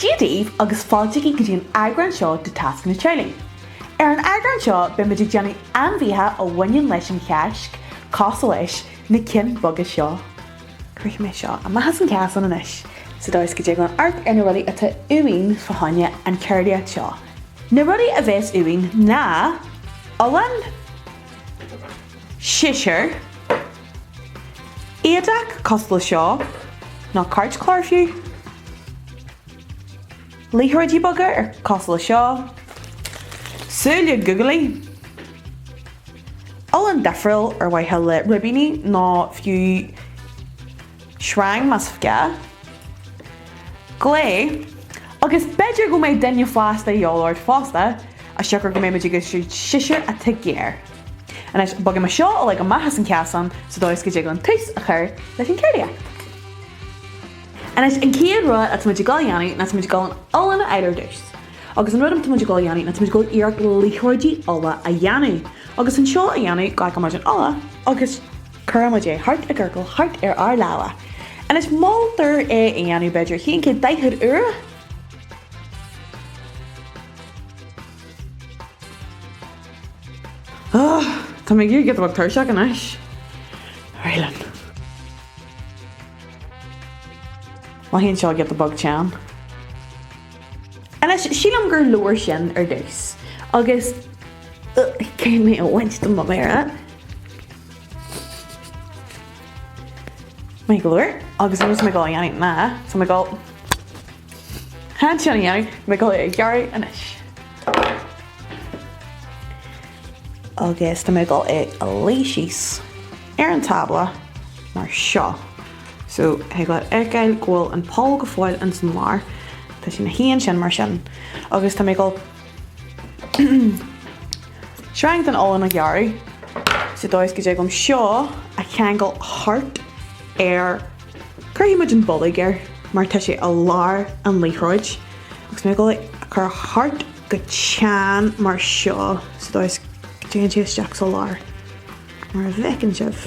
Dia daoibh agus fáilte go dtí an eagrán seo de Tasc an Teaghlaigh. Ar an eagrán seo beimid ag déanamh ainmhithe a bhaineann leis an Cháisc, cosúil leis na cinn boga seo. Cuirfidh mé seo amach as an chasán anois, sa dóigh is go dtig linn amharc ar na rudaí atá uainn fá choinne an ceardaíocht seo. Na rudaí a bheas uainn ná olann, siséar, éadach cosúil le seo, nó cairtchlár fiú. Liathróidí boga ar cosúil le seo. Súile googly. Olann difriúil ar mhaithe le ribíní nó fiú sreang más gá. Gliú, agus b'fhéidir go mbeidh duine fásta de dhíobháil ort fosta as siocair go mbeimid ag úsáid siséar atá géar. Anois, bogfaidh mé seo uilig amach as an chasán sa dóigh is go dtig liom tús a chur leis an gceardaíocht. Anois, an chéad rud atá muid ag dul a dhéanamh ná tá muid ag dul an olann a fháil ar dtús. Agus an rud atá muid ag dul a dhéanamh ná tá muid ag dul iarracht liathróidí olla a dhéanamh. Agus le seo a dhéanamh, glacann muid an olann agus cuireann muid é thart i gciorcal thart ar ár lámha. Anois, moltar é a dhéanamh b'fhéidir aon chéad daichead uaire. Tá mé ag éirí giota beag tuirseach anois. Ar ais linn. Mothaíonn seo giota beag teann. Anois, sílim gur leor sin ar dtús, agus thig liom é a bhaint de mo mhéara. Maith go leor, agus an rud atá mé ag dul a dhéanamh ná, so tá mé ag dul, chun sin a dhéanamh, tá mé ag dul é a ghearradh anois. agus tá mé ag dul é a ligint síos ar an tábla mar seo. So thig leat a fheiceáil go bhfuil an poll go fóill ins an lár, tá sé 'na shuí ansin mar sin agus tá mé ag dul sreang den olann a ghearradh, sa dóigh is go dtig liom seo a cheangal thart ar. Cuirfidh muid an bolg air mar tá sé i lár an liathróid agus tá mé ag dul é a chur thart go teann mar seo sa dóigh is go dtéann sé isteach sa lár. Mar a fheiceann sibh,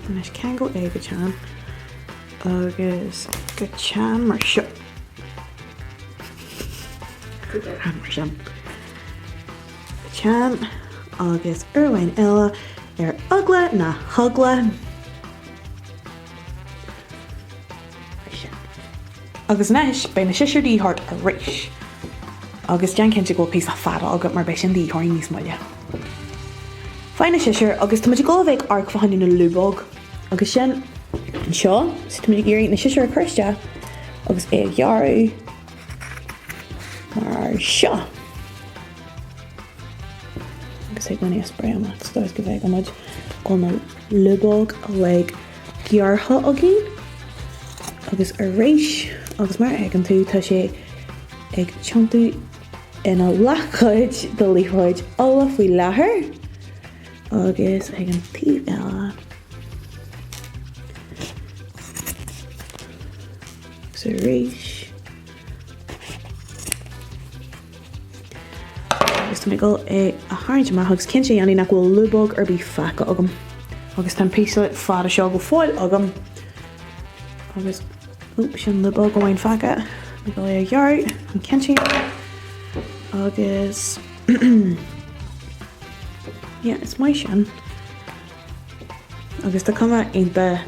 anois ceangail é go teann agus go teann mar seo. Mar seo. Go teann agus uair amháin eile ar eagla na heagla. Agus anois beidh na siosúir de dhíth ort arís. Agus déan cinnte go bhfuil píosa fada agat mar beidh sin de dhíth ort níos moille. Faigh na siosúir agus tá muid ag dul a bheith ag amharc fá choinne na lúbóg. Agus sin anseo, so tá muid ag iarraidh na siosúir a chur isteach agus é a ghearradh mar seo. Agus ag muine a spray amach, sa dóigh is go mbeidh go muid go na lúbóg uilig gearrtha againn agus arís agus mar a fheiceann tú tá sé ag tiontú ina leathchuid de liathróid olla faoi láthair agus ag an taobh eile. Agus arís. Is tá mé ag dul é a tharraingt amach agus cinnte a dhéanamh nach bhfuil lúbóg ar bith fágtha agam. Agus tá an píosa fada seo go fóill agam agus oh sin lúbóg amháin fágtha. Mé ag dul a ghearradh an chinn sin agus yeah is maith sin agus tá cuma iontach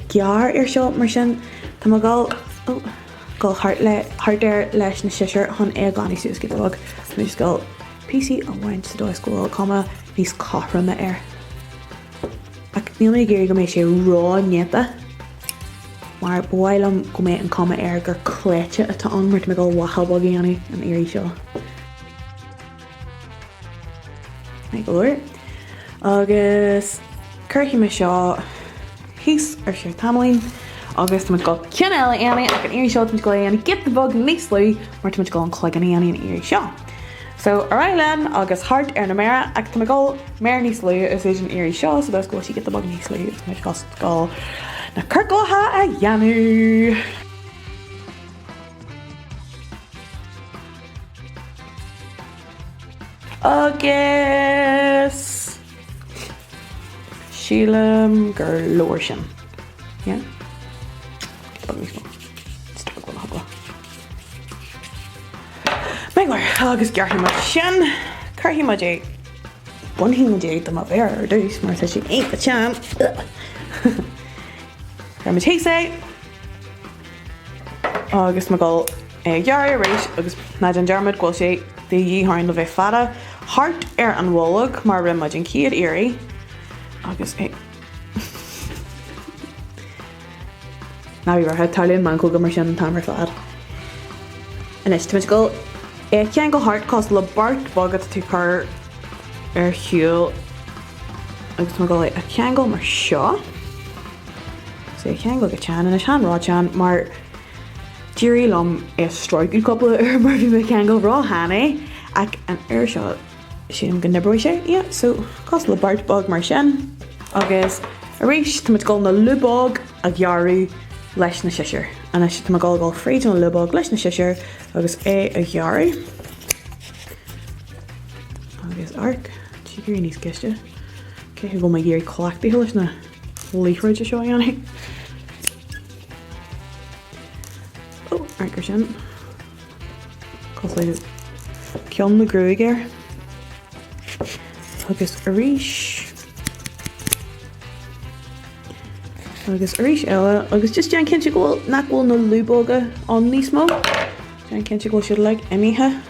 ghearr air seo, mar sin. Tá mé ag dul thart air leis na siosúir chun é a ghlanadh suas giota beag. Tá mé ag dul píosaí a bhaint sa dóigh is go bhfuil cuma níos cothroime air. Ach níl mé ag iarraidh go mbeidh sé ró-néata, mar ba mhaith liom go mbeidh an cuma air gur cleite atá ann, mar tá mé ag dul lacha beag a dhéanamh an iarraidh seo. Go leor agus cuirfidh mé seo thíos ar feadh tamaillín agus táimid ag dul ceann eile a dhéanamh ach an iarraidh seo táimid ag dul é a dhéanamh giota beag níos lú mar táimid ag dul an cloigeann a dhéanamh an iarraidh seo. So ar aghaidh linn agus thart ar na méara ach táimid ag dul méar níos lú a úsáid an iarraidh seo sa dóigh is go bhfuil sí giota beag níos lú agus táimid just ag dul na ciorclacha a dhéanamh. Agus sílim gur leor sin. Yeah? Beag níos mó. Just ar eagla na heagla. Mé mar agus gearrfaidh muid sin. Cuirfidh muid é. Bainfidh muid é de mo mhéar ar dtús mar tá sé iontach teann. Cuirfidh muid thíos é. Agus mé ag dul é a ghearradh arís agus ná déan dearmad go bhfuil sé de dhíth orainn le bheith fada thart ar an bholg mar a rinne muid an chéad iarraidh agus é Ná bí buartha, tarlaíonn meancóga mar sin an t-am ar fad. Anois, táimid ag dul é a cheangal thart cosúil le beart beag atá tú ag cur ar shiúl. agus tá mé ag gabháil é a cheangal mar seo, agus é a cheangal go teann anois. Chan rótheann mar D'éirigh liom é a stróiceadh cúpla uair mar bhí mé ag ceangal rótheann é ach an uair seo sílim go n-oibreoidh sé, yeah, so cosúil le beart bog mar sin agus arís tá muid ag gabháil na lúbóga a ghearradh leis na siosúr anois tá mé ag gabháil ag gabháil fríd na lúbóga leis na siosúr agus é a ghearradh agus arc Tá sé ag éirí níos gaiste. Cé go bhfuil mé ag éirí cleachtaithe leis na liathróidí seo a dhéanamh. Ó, right mar sin. Cosúil le ceann na gruaig air. Agus arís. Agus arís eile, agus just déan cinnte go bhfuil nach bhfuil na lúbóga ann níos mó. Déan cinnte go bhfuil siad uilig imithe.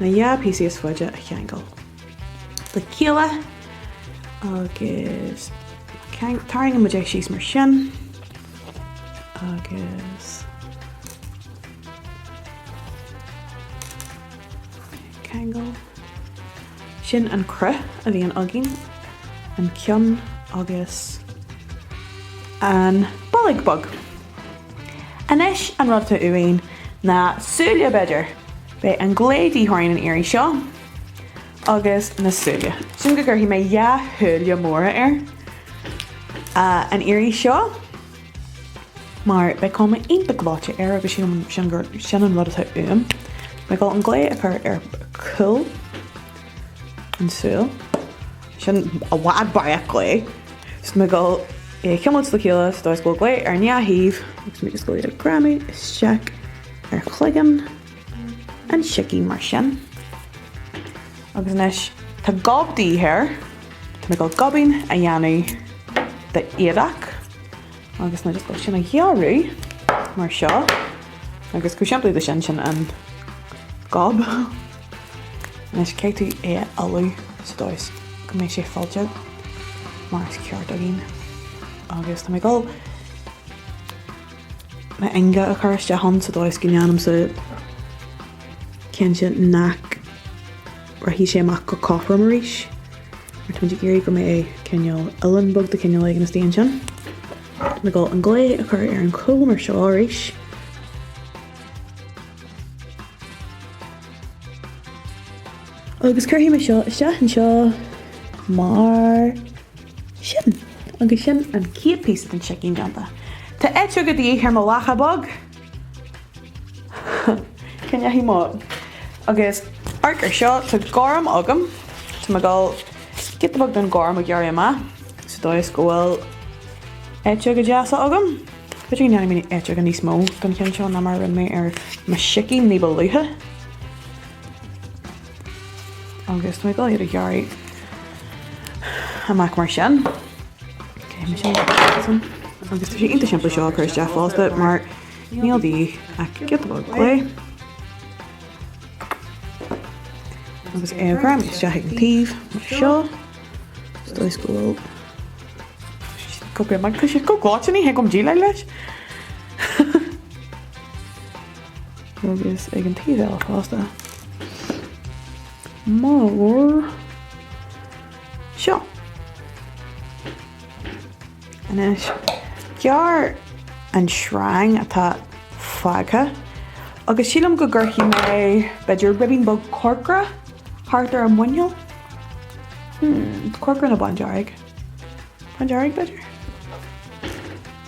na dhá phíosa is faide a cheangal le chéile agus tarraingíonn muid é síos mar sin agus ceangal. Sin an cruth a bhíonn againn, an ceann agus an bolg bog. Anois an rud atá uainn ná súile, b'fhéidir. Beidh an glao de dhíth orainn an iarraidh seo agus na súile. Sílim go gcuirfidh mé dhá shúile móra air an iarraidh seo mar beidh cuma iontach gleoite air agus sin an rud atá uaim. Tá mé ag gabháil an glao a chur ar cúl An súil sin i bhfad barraíocht glao. So tá mé ag gabháil iad a chuimilt le chéile sa dóigh is go bhfuil glao ar an dá thaobh agus tá mé ag gabháil iad a ghreamú isteach ar chloigeann an tsicín mar sin. Agus anois tá gob de dhíth air, tá mé ag gabháil gob a dhéanamh de éadach. Agus níl mé ach ag gabháil sin a ghearradh mar seo, agus chomh simplí leis sin, sin an gob. Anois caithfidh tú é a fhilleadh sa dóigh go mbeidh sé fillte mar is ceart againn. Agus tá mé ag dul mo ionga a chur isteach ann sa dóigh go ndéanamsa cinnte nach. rachaidh sé amach go cothrom arís, mar táimid ag iarraidh go mbeidh cineál uilleann bog de chineál éigin istigh ansin, tá mé ag gabháil an glao a chur ar an chúl mar seo arís. Agus cuirfidh mé seo isteach anseo mar sin. Agus sin an chéad phíosa den sicín déanta. Tá eiteoga de dhíth ar mo lacha bheag! Cén leathadh mo agus amharc air seo? Tá gorm agam. Tá mé ag dul giota beag don gorm a ghearradh amach. Sa dóigh is go bhfuil eiteoga deasa agam. B'fhéidir go ndéanfaidh mé eiteoga níos mó don cheann seo ná mar a rinne mé ar mo sicín ní ba luaithe. Agus tá mé ag dul iad a ghearradh amach mar sin, téann sé san. Agus tá sé iontach simplí seo a chur isteach fosta mar níl de dhíth ach giota beag gliú. Agus é a ghreamú isteach ag an taobh mar seo, sa dóigh go bhfuil cibé mar tá siad chomh gleoite ní thig liom déileáil leis. agus ag an taobh eile fosta, mar seo. Anois, gearr an sreang atá fágtha agus sílim go gcuirfidh mé b'fhéidir ribín beag corcra thart ar an muineál. Corcra nó bándearg? Bándearg, b'fhéidir?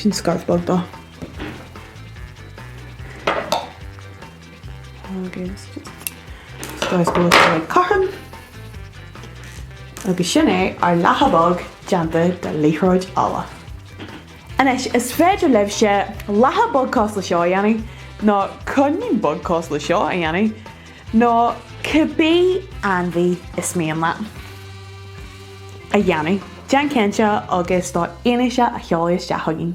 Sin scairf beag dó. Agus scairf beag dó cothrom. Agus sin é ár lacha beag déanta de liathróid olla. Anois, is féidir libhse lacha beag cosúil le seo a dhéanamh, nó coinín beag cosúil le seo a dhéanamh. nó cibé ainmhí is mian leat a dhéanamh, déan cinnte agus do fhianaise a sheoladh isteach chugainn.